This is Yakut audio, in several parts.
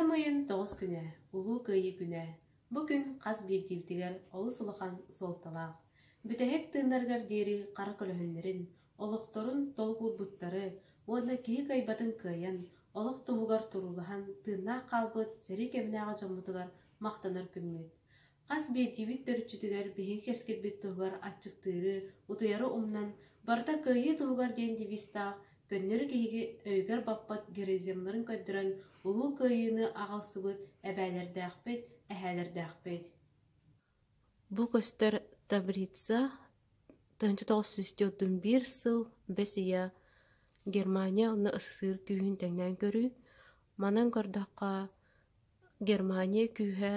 Ыам ыйын тоҕус күнэ, Улуу Кыайыы күнэ. Бу күн хас биирдиибитигэр олус улахан суолталаах. Бүтэһик тыыннаргар диэри хара көлөһүннэрин, олохторун толкуйбуттары уонна киһи кайбатын кыайан, олох туһугар туруулаһан тыыннаах хаалбыт сэрии кэмнээҕи дьоммутугар махтанар күммүт. Хас биирдиибит төрүччүтүгэр биһиги кэскилбит туһугар аччыктыыры, утуйары умнан, барыта кыайыы туһугар диэн девизтаах көннөрү киһи өйүгэр баппат героизмнарын көрдөрөн улуу кыайыыны аҕалсыбыт эбээлэрдээхпит, эһээлэрдээхпит. Бу көстөр Таврица 1931 сыл бэс ыйа Германия уонна СССР күүһүн тэҥнээн көрүү. Манан көрдөххө, Германия күүһэ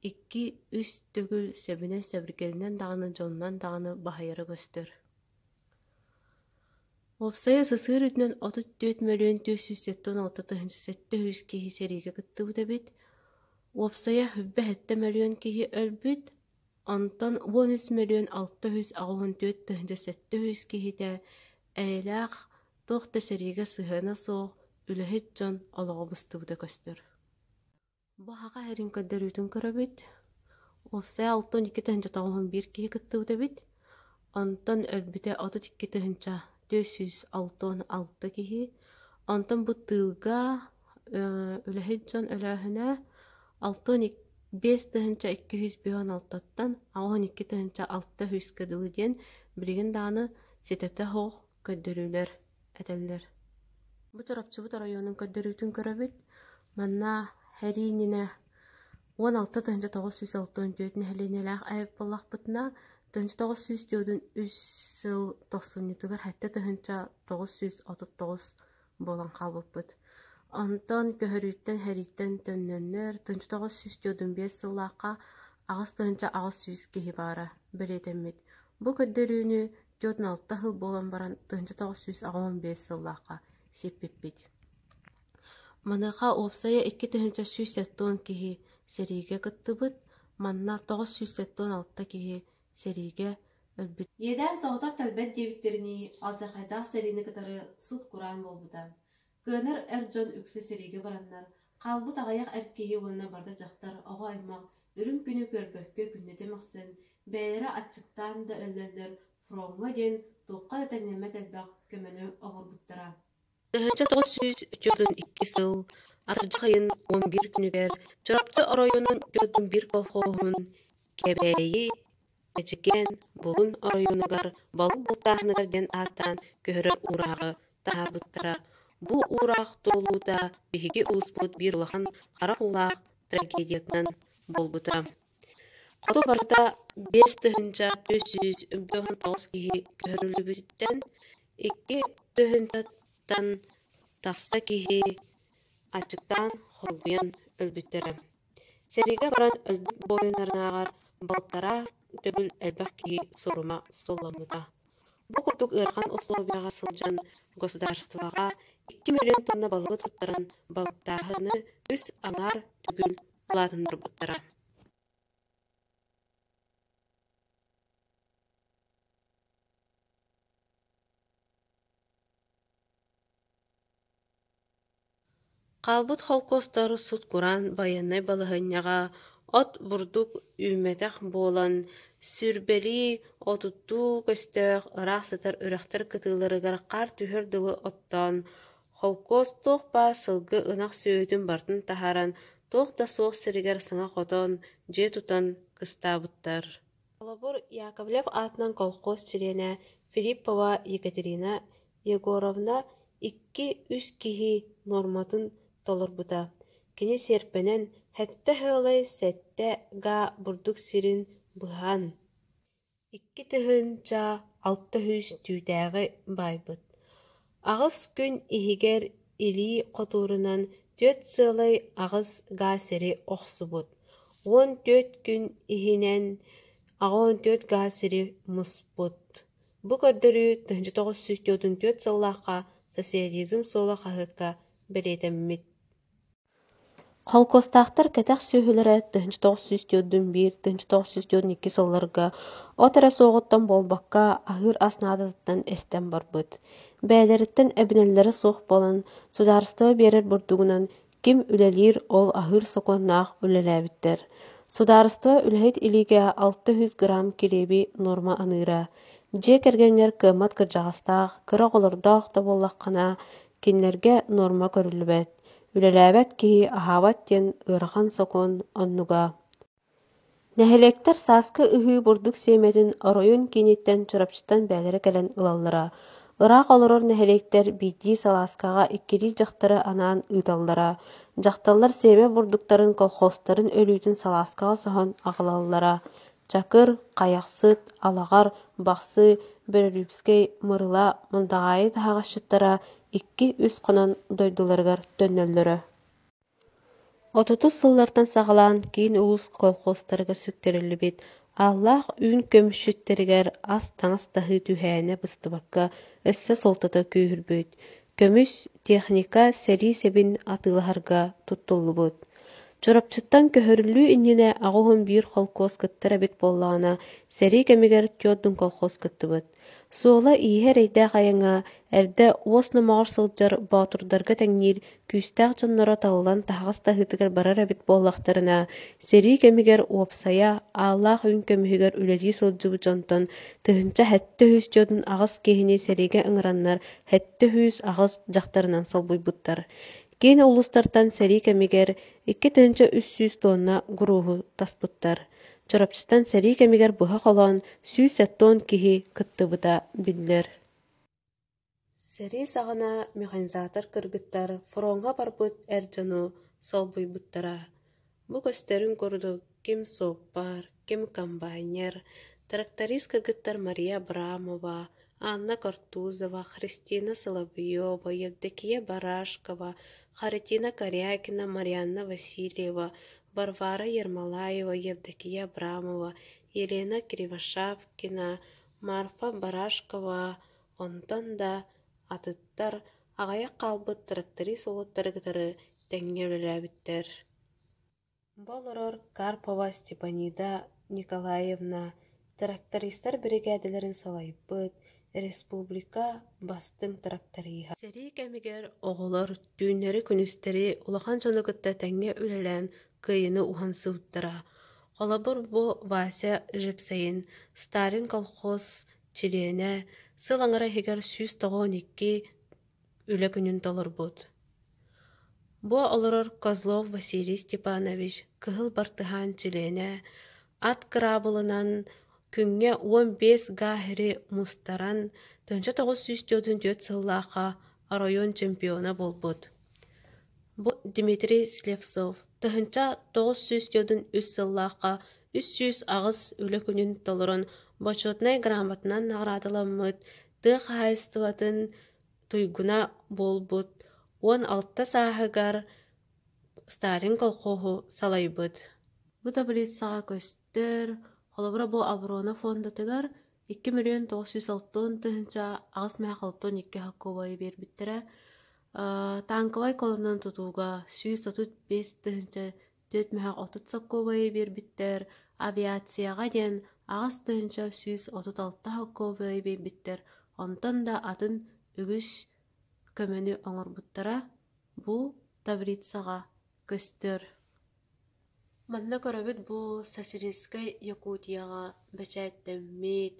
Икки, үс төгүл Сэбинэ сэбиргэлинэн даҕаны дьонунан даҕаны баһыйара көстөр Уопсайа сысыыр үрдүнэн отут түөрт мөлүйүөн түөрт сүүс сэттэ уон алта тыһыынча сэттэ үс киһи сэриигэ кыттыбыт эбит. Уопсайа бүбэһэттэ мөлүйүөн киһи өлбүт, онтон уон үс мөлүйүөн алта үс аҕа уон түөрт тыһыынча сэттэ үс киһитэ эйэлээх, туох да сэриигэ сыһыана суох, үлэһит дьон олоҕо быстыбыта көстөр Бу аһаҕас эрин көрдөрүүтүн көрөбүт. Уопсай алтын икки тыһыынча тоҕуһун биир киһи кыттыбыт эбит. Онтон өлбүтэ отут икки тыһыынча түөрт сүүс алтан алта киһи. Онтон бу тыылга үлэһит дьон өлөөһүнэ алтан биэс тыһыынча икки сүүс биһон алтаттан аҕыһын икки тыһыынча алта сүүскэ дылы диэн билигин даҕаны ситэтэ суох көрдөрүүлэр этэллэр «Бу Чурапчыбыт оройуонун көрдөрүүтүн көрөбүт, манна һэрии иннинэ уон алта тыһыынча тоҕус сүүс алта уон түөрт нэһилиэнньэлээх эбит буоллахпытына, тыһыынча тоҕус сүүс түөртүн үс сыл тохсунньутугар сэттэ тыһыынча тоҕус сүүс отут тоҕус буолан хаалбыппыт. Онтон көһөрүүттэн һэрииттэн төннөннөр тыһыынча тоҕус сүүс түөртүн биэс сыллаахха аҕыс тыһыынча аҕыс сүүс киһи баара бэлиэтэммит. Бу көрдөрүүнү Түөрт уон алта сыл буолан баран тыһыынча тоҕус сүүс аҕыйан биэс сыллаахха сиппиппит Маныаха уопсайа икки тыһыынча сүүс сэттион киһи сэриигэ кыттыбыт, манна тоҕус сүүс сэттион алта киһи сэриигэ өлбүт. Иэдээн соҕотох тэлбэт диэбиттэринии, алдьархайдаах сэриини кытары сылт-кураан буолбута. Кыанар эр дьон үксэ сэриигэ бараннар, хаалбыт аҕыйах эр киһи уонна барыта дьахтар, оҕо-аймах үрүҥ күнү көрбөккө күннэтэ мөхсөн, бэйэлэрэ аччыктаан да өллөллөр, фроҥҥа диэн туохха да тэҥнэммэт элбэх көмөнү оҥорбуттара. Тыһыынча тоҕус сүүс үтүөтүн икки сыл атырдьахайын уон биир күнүгэр Чурапчы оройуонун Петун биир колхоһун Кэбээйи Эчикээн Булун оройуонугар Балык Бултааһыныгар диэн ааттаан көһөрөр уурааҕы таһаарбыттара. Бу уураах туолуута биһиги улууспут биир улахан харах уулаах трагедиятынан буолбута. Хоту барыта биэс тыһыынча түөрт сүүс үбүлүөйүн тоҕус киһи көһөрүллүбүттэн икки тыһыынчаттан тахса киһи аччыктаан хоргуйан өлбүттэрэ Сэриигэ баран өлбүт буойуннарынааҕар балтараа төгүл элбэх киһи сурума соломмута. Бу курдук ыарахан усулуобуйаҕа сылдьан государствоҕа икки мөлүйүөн туонна балыгы туттаран балтааһыны үс аҥаар төгүл улаатыннарбыттара Хаалбыт холкуостар сут-кураан байыаннай балаһыанньаҕа от бурдук үүммэтэх буолан, сүүрбэлии, отуттуу көстөөх ыраах сытар үрэхтэр кытыыларыгар хаар түһэр дылы оттоон, холкуос туох баар сылгы ынах сүөһүтүн барытын таһааран, туох да суох сиригэр саҥа хотон, дьиэ тутан кыстаабыттар. Холобур, Яковлев аатынан колхоз чилиэнэ Филиппова Екатерина Егоровна икки-үс киһи нуорматын толорбута, кини сиэрпэнэн сэттэ-сыалай сэттэ-га бурдук сирин быһан, икки тыһыынча алта сүүс түүтээҕи баайбыт. Аҕыс күн иһигэр илии хотуурунан түөрт сыалай аҕыс га сири охсубут, уон түөрт күн иһинэн аҕа уон түөрт га сири муспут Бу көрдөрүү тыһыынча тоҕус сүүс түөртүн түөрт сыллаахха социализм суола хаһыакка бэлиэтэммит Холкуостаахтар кэтэх сүөһүлэрэ тыһыынча тоҕус сүүс түөртүн биир тыһыынча тоҕус сүүс түөртүн икки сылларга от эрэ суоҕуттан буолбакка аһыыр ас наадатыттан эстэн барбыт. Бэйэлэриттэн эбинэллэрэ суох буолан, судаарыстыба биэрэр бурдугунан ким үлэлиир ол аһыыр сокуоннаах үлэлээбиттэр судаарыстыба үлэһит илиигэ алта үс грамм кириэби нуорма аныыра дьиэ кэргэҥҥэр кыаммат кырдьаҕастаах кыра оҕолордоох да буоллаххына кинилэргэ нуорма көрүллүбэт үлэлээбэт киһи аһаабат диэн ыарахан сокуон оннуга Нэһилиэктэр сааскы ыһыы бурдук сиэмэтин оройун кииниттэн Чурапчыттан бээлэрэ кэлэн ылаллара, ыраах олорор нэһилиэктэр биирдии салааскаҕа иккилии дьахтары анаан ыыталлара, дьахталлар сиэмэ бурдуктарын колхозтарын өлүүтүн салааскаҕа соһон аҕалаллара, Чакыр, Хайахсыт, Алаҕар, Бахсы, Бөрөлүүпскэй, Мырыла, Мындаҕаайы таһаҕасчыттара икки-үс хонон дойдуларыгар төннөллөрө Отутус сыллартан саҕалаан киин улуус колхозтарыгар сүктэриллибит ааллаах үүн көмүсчүттэригэр ас-таҥас таһыы түһээнэ быстыбакка өссө суолтата күүһүрбүт, көмүс, техника сэрии сэбин атыылаһарга туттуллубут. Чурапчыттан көһөрүллүү иннинэ аҕыс уон биир холкуос кыттар эбит буоллаҕына, сэрии кэмигэр түөрт колхоз кыттыбыт. Суола-ииһэ эрэйдээх айаҥа, эрдэ уос номоҕор сылдьар боотурдарга тэҥниир күүстээх дьонноро талылан таһаҕас таһыытыгар барар эбит буоллахтарына, сэрии кэмигэр уопсайа ааллаах үҥ көмүһүгэр үлэлии сылдьыбыт дьонтон тыһыынча сэттэ үһүс дьон аҕыс киһини сэриигэ ыҥыраннар сэттэ үһүс аҕыс дьахтарынан солбуйбуттар. Киин улуустартан сэрии кэмигэр икки тыһыынча үс сүүс туонна гурууһу таспыттар. Чурапчытан сэрии кэмигэр быһа холоон сүүс оттон киһи кыттыбыта биллэр Сэрии саҕана механизатор кыргыттар фроҥҥа барбыт эр дьону солбуйбуттара. Бу көстөрүн курдук ким суоппар, ким комбайнер, тракторист кыргыттар Мария Абрамова, Анна Кортузова, Христина Соловьева, Евдокия Барашкова, Харатина Корякина, Марианна Васильева, Варвара Ермолаева, Евдокия Абрамова, Елена Кривошапкина, Марфа Барашкова, онтон да атыттар аҕыйах хаалбыт тракторист уолаттары кытары тэҥҥэ үлэлээбиттэр Бу олорор Карпова Степанида Николаевна трактористар биригээдэлэрин салайбыт республика бастыҥ тракториһа. Сэрии кэмигэр оҕолор түүннэри-күнүстэри улахан дьону кытта тэҥҥэ үлэлээн кыайыыны уһан сылдьара. Холобур, бу Вася Жипсэйин Сталин колхоз чилиэнэ, сыл аҥара иһигэр сүүс тоҕус он икки Үлэ күнүн толорбут Бу олорор Козлов Василий Степанович кыһыл бартыһаан чилиэнэ ат кыраабылынан күҥҥэ уон биэс гааһыри мустаран тыһыынча тоҕус сүүс түөртүн түөрт сыллаахха оройуон чемпиона буолбут. Бу Дмитрий Слепцов тыһыынча тоҕус сүүс түөртүн үс сыллаахха үс сүүс аҕыс үлэ күнүн толорон Бочуотунай грамотанан наҕараадаламмыт тыа хаһаайыстыбатын туйгуна буолбут уон алта сааһыгар Сталин колхоһу салайбыт. Бу таблицаҕа көстөр, холобура бу оборона фондатыгар икки миллион тоҕус сүүс алтан тыһыынча аҕыс миэхэ алтан икки хакубайы биэрбиттэрэ. Таанкабай колоннан тутууга сүүс отут биэс тыһыынча Түөртмөһөх отут солкуобайы биэрбиттэр, авиацияҕа диэн аҕыс тыһыынча сүүс отут алта солкуобайы биэрбиттэр, онтон да атын үгүс көмөнү оҥорбуттара бу таблицаҕа көстөр. Манна көрөбүт бу Сосельскай Якутияҕа бэчээттэммит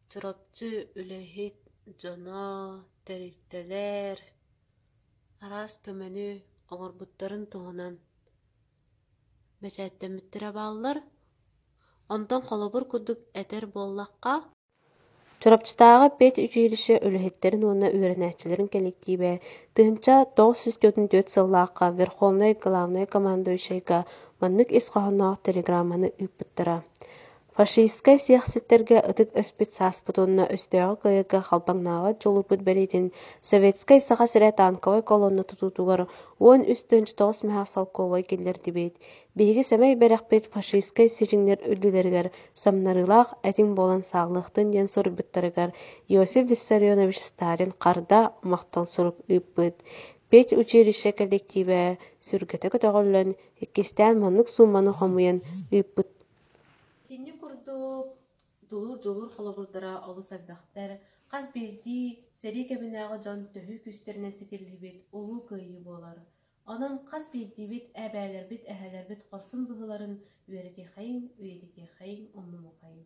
Чурапчы үлэһит дьоно, тэрилтэлэр Араас көмөнү оҥорбуттарын туһунан бэчээттэммиттэрэ бааллар, онтон холобур курдук этэр буоллахха, Чурапчытааҕы педучилище үлэһиттэрин уонна үөрэнээччилэрин кэлэктиибэ тыһыынча тоҕус сүүс түөртүн түөрт сыллаахха Верховнай главнай командующайга маннык ис хоһоонноох телеграмманы ыыппыттара Фашистскай сиэхситтэргэ ытык өспүт сааспыт уонна өстөөҕү кыайарга халбаҥнаабат дьулуппут бэлиэтин Советскай Саха сирэ танковай колонна тутуутугар уон үс тыһыынча тоҕус мөһөх солкуобай киллэрдибит. Биһиги сэмэй бэрэхпит фашистскай сидьиҥнэр үрдүлэригэр самнарыылаах этиҥ буолан сааллыахтын диэн суруйбуттарыгар Иосиф Виссарионович Сталин харда, махтал сурук ыыппыт. Педучилище коллективэ сүргэтэ көтөҕүллэн, иккистээн маннык суумманы хомуйан ыыппыт Итинник курдук дулуур-дьулуур холобурдара олус элбэхтэр, хас биирдии сэрии кэминээҕи дьон төһүү күүстэринэн ситиллибит Улуу Кыайыы буолар. Онон хас биирдиибит эбээлэрбит, эһэлэрбит хорсун быһыыларын үөрэтиэхэйиҥ, үйэтитиэхэйиҥ, умнумуохайыҥ.